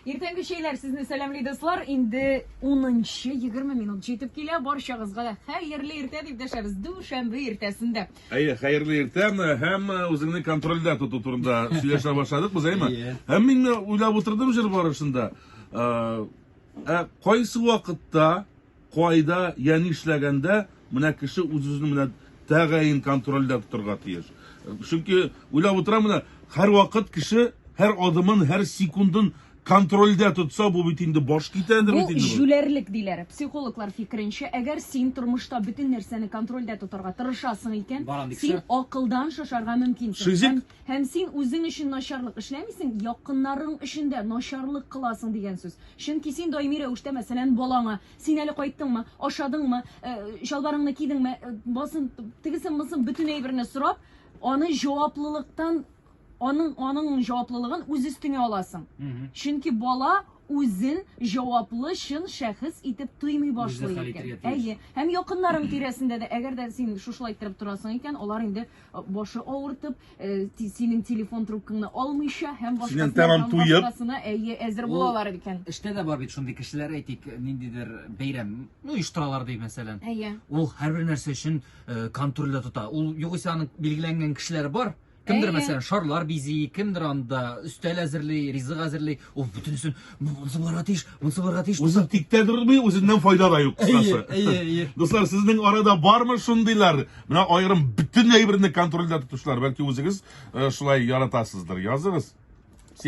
Иртәнге чәйләр сезне сәламли дуслар. Инде 10-20 минут җитеп килә. Барчагызга да хәерле иртә дип дәшәбез. Дүшәмбе иртәсендә. Әйе, хәерле иртә һәм э, үзеңне контрольдә тоту турында сөйләшә башладык без, әйме? Һәм мин уйлап утырдым җыр барышында. Э, ә кайсы вакытта Кайда, я нишләгәндә менә кеше үз-үзен менә тәгаен контрольдә тотарга тиеш. Чөнки уйлап утырам менә, һәрвакыт кеше һәр адымын, һәр секундын контрольдә тотса, бу бит инде баш китәдер Бу бит инде бу. җүләрлек, диләр. Психологлар фикеренчә, әгәр син тормышта бөтен нәрсәне контрольдә тотарга тырышасың икән, Барам дисә. син акылдан шашарга мөмкинсең Шизик. һәм Һәм син үзең өчен начарлык эшләмисең, якыннарың өчен дә начарлык кыласың дигән сүз. Чөнки син даими рәвештә, мәсәлән, балаңа, син әле кайттыңмы, ашадыңмы, э, чалбарыңны кидеңме, э, басын, тегесен-монысын бөтен әйберне сорап, аны җаваплылыктан, аның, аның җаваплылыгын үз өстеңә аласың. Чөнки бала үзен җаваплы чын шәхес итеп тоймый башлый икән. Әйе. Һәм якыннарың тирәсендә дә, әгәр дә син шушылай иттереп торасың икән, алар инде башы авыртып, э, ти- синең телефон трубкаңны алмыйча һәм башкасына тәмам һәм туеп. башкасына әйе әзер Ул- булалар икән. Эштә дә бар бит шундый кешеләр, әйтик, ниндидер бәйрәм, ну, оештыралар ди, мәсәлән. Әйе. Ул һәрбер нәрсә өчен э, контрольдә тота. Ул югыйсә аның билгеләнгән кешеләре бар. Кемдер, Әйе. мәсәлән, шарлар бизи, кемдер анда өстәл әзерли, ризык әзерли. Ул бөтенесен Монысы булырга тиеш, монысы булырга тиеш. Үзен тиктә тормый, үзеннән файда да юк кыскасы. Әйе, әйе. Дуслар, сезнең арада бармы шундыйлар? Менә аерым бөтен әйберне контрольдә тотучылар, бәлки үзегез э, шулай яратасыздыр. Языгыз.